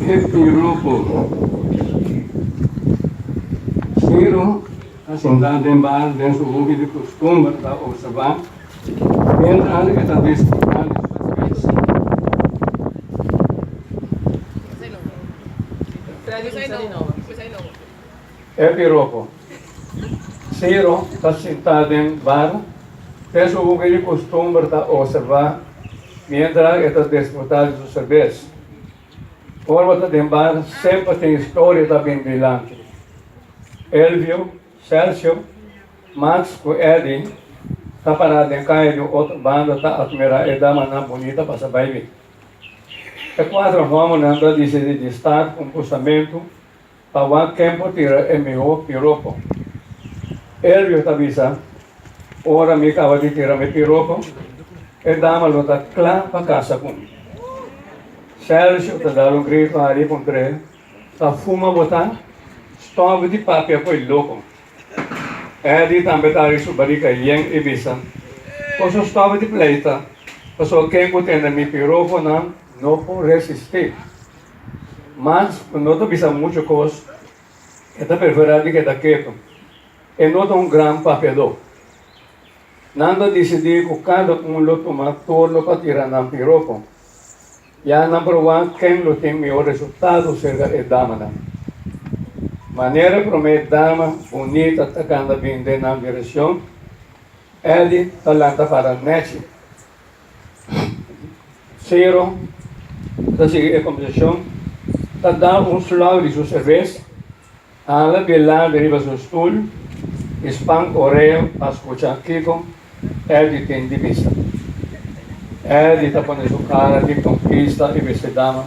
E piropo di Ciro a sintá den bar den su hopi di kustumber ta opservá miéntras e ta disfrutá di su servesa. Tradusá di nobo. E piropo, Ciro ta sintá den bar, ten su hubia di kustumber ta observá mientra e ta disfrutá di su serbes. Forma ta den bar semper tin historia ta bini dilanti. Elvio, Sergio, Max ku Eddy ta pará den kaya di un otro banda ta atmirá e damanan bunita pasa bai bi. E kuater hòmbernan ta disidí di sta ku un busamentu Pa wak tempu tira e miho piropo. Elvio ta bisa, Ora mi kaba di tira mi piropo, e dama lo ta kla pa kasa ku mi. Sérgio ta dal un grito Ari ku un tré, Ta fuma bo ta? Stòp di papia ku e loko! Eddy tambe ta ari su barika yen i bisa, Koso stòp di pleita, pasobra ken ku tende mi piroponan no por resistí. Mas ku no ta bisa muchu kos, e ta preferá di keda ketu. E no ta un gran papiadó. Nan ta disidí ku kada un lo tuma turno pa tira nan piropo. Ya nan probá ken lo tin mihó resultado serka e damanan. Manera promé dama bunita ta kanda bin den nan direkshon, Eddie ta lanta para Nechi Sero ta sigui e kombersashon, ta da un slòg di su serves, hala p'e laga riba su stul i span orea pa skucha kiko Eddy tin di bisa. Eddy ta pone su kara di konkista i bese dama,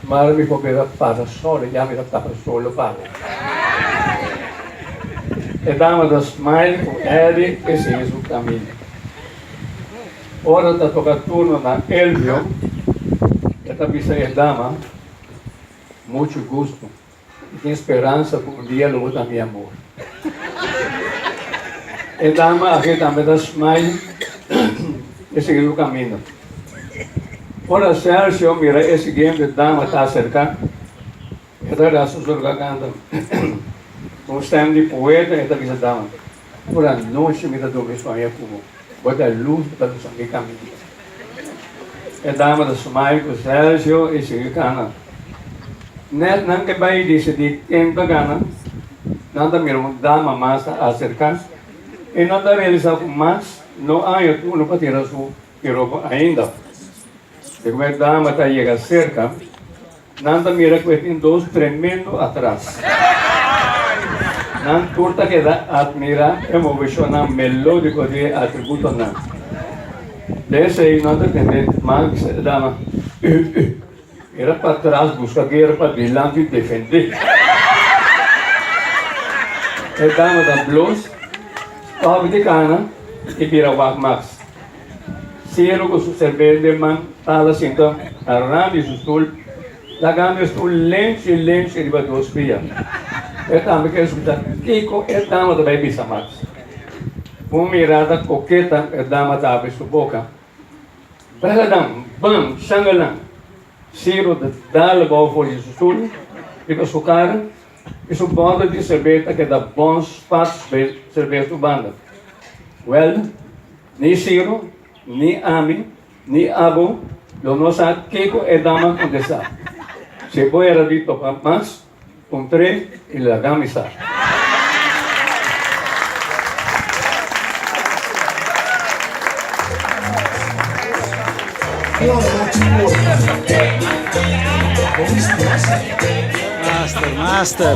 Mara mi por bira para solo, ya mi ta tapa solo para. E dama ta smile ku Eddy i sigui su kaminda. Ora ta toka turno na Elvio, e ta bisa e dama, Muchu gusto. Mi tin speransa ku un dia lo bo ta mi amor. E dama aki tambe ta smile i sigui su kaminda. Ora Sergio mira e siguiente dama ta aserka, E ta da su zorga kanta ku un stèm di poeta, e ta bisa, Dama, tur anochi mi ta durmi suaña ku bo, bo ta e lus ku ta lusa mi kaminda. E dama ta smai ku Sérgio i sigui kanta. Nèt nan ke bai disidí ken ta gana, nan ta mira un dama mas ta aserká i nan ta realisá ku mas no aña turno pa tira su piropo ainda. Dikumen dama ta yega serka. Nan ta mira cu e tin dos tremendo atras. Nan tur ta keda admira e movecionnan melodico di e atributonan. Desei nan ta tende Max e dama, Ey, ey, mira pa tras, busca guera pa dilanti y defende. E dama ta blos, coge di cana y bira wak Max. Sero cu su serbente man tala sinta a ran di su stul, lagando e stul lenci lenci riba dos pia. E tambe kere scucha kico e dama ta bay bisa mas. Cu un mirada coqueta e dama ta abri su boca, Beladan, ban, shangalan! Sero ta dal bao for di su stul, riba su cara, y su bottle di serbes ta keda bon spats bay serbes su banda. Welda! Ni Ciro, ni ami, ni abo lo no sa kico e dama a contesta. Si bo era di toca mas un tre y laga mi sa. Master, master.